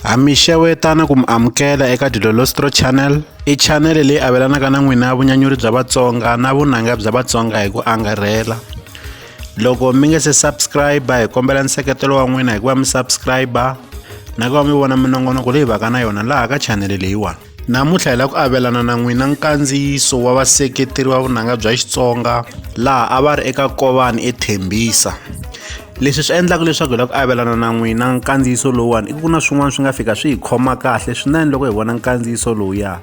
Ha mi xewetana ku mi amukela eka Dilolostro Channel. I chanele leyi avelanaka na n'wina vunyanyuri bya Vatsonga na vunanga bya Vatsonga hi ku angarhela. Loko mi nge se subscribe hi kombela nseketelo wa n'wina hikuva mi subscribe na ku va mi vona minongonoko leyi vaka na yona laha ka chanele leyiwani. Namuntlha hi lava ku avelana na n'wina nkandziyiso wa vaseketeri va vunanga bya Xitsonga laha a va ri eka Kovani eThembisa. Leswi swi endlaka leswaku hi lava ku avelana na n'wina nkandziyiso lowuwani i ku na swin'wana swi nga fika swi hi khoma kahle swinene loko hi vona nkandziyiso lowuya.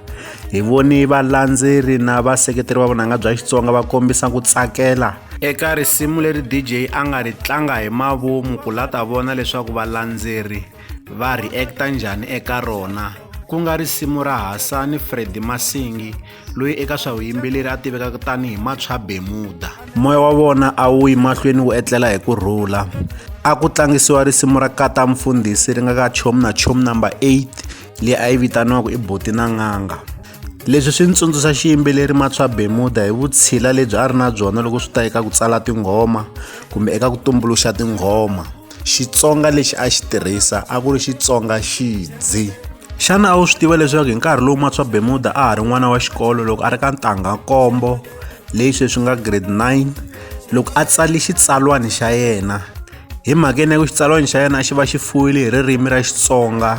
Hi voni valandzeri na vaseketeri va vunanga bya Xitsonga va kombisa ku tsakela eka risimu leri DJ a nga ri tlanga hi mavomu ku la ta vona leswaku valandzeri va reacta njhani eka rona ku nga risimu ra hasani fredi masingi loyi eka swa vuyimbeleri a tivekaka tanihi matshwa bemuda moya wa vona a wu yi mahlweni wu etlela hi ku rhula a ku tlangisiwa risimu ra kata mfundhisi ri nga ka chomu na chomu number 8 leyi a yi vitaniwaka i boti na n'anga leswi swi ni tsundzuxa xiyimbeleri matswa bemuda hi vutshila lebyi a ri na byona loko swi ta eka ku tsala tinghoma kumbe eka ku tumbuluxa tinghoma xitsonga lexi a xi tirhisa a ku ri xitsonga xidzi xana a wu swi tiva leswaku hi nkarhi lowu matswa bemuda a ha ri n'wana wa xikolo loko a ri ka ntangha nkombo leyi sweswi nga grade 9 loko a tsali xitsalwani xa yena hi mhakeni ya ku xitsalwani xa yena a xi va xi fuwile hi ririmi ra xitsonga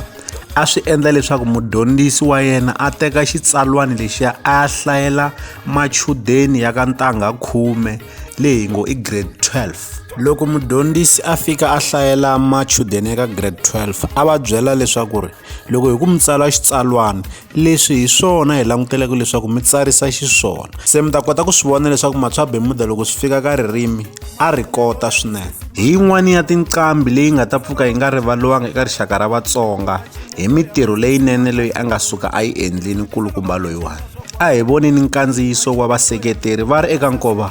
a swi endla leswaku mudyondzisi wa yena a teka xitsalwani lexiya a ya hlayela machudeni ya ka ntangha khume leyi ngo i grade 12 loko mudyondzisi a fika a hlayela machudeni eka grade 12 a va byela leswaku ri loko hi ku mi tsala xitsalwana leswi hi swona hi languteleke leswaku mi tsarisa xiswona se mi ta kota ku swi vona leswaku matswabemuda loko swi fika ka ririmi a ri kota swinene hi yin'wana ya tinqambi leyi nga ta pfuka yi nga rivaliwanga eka rixaka ra vatsonga hi mitirho leyinene leyi a nga suka a yi endlini nkulukumba loyiwani a hi voni ni nkandziyiso wa vaseketeri va ri eka nkova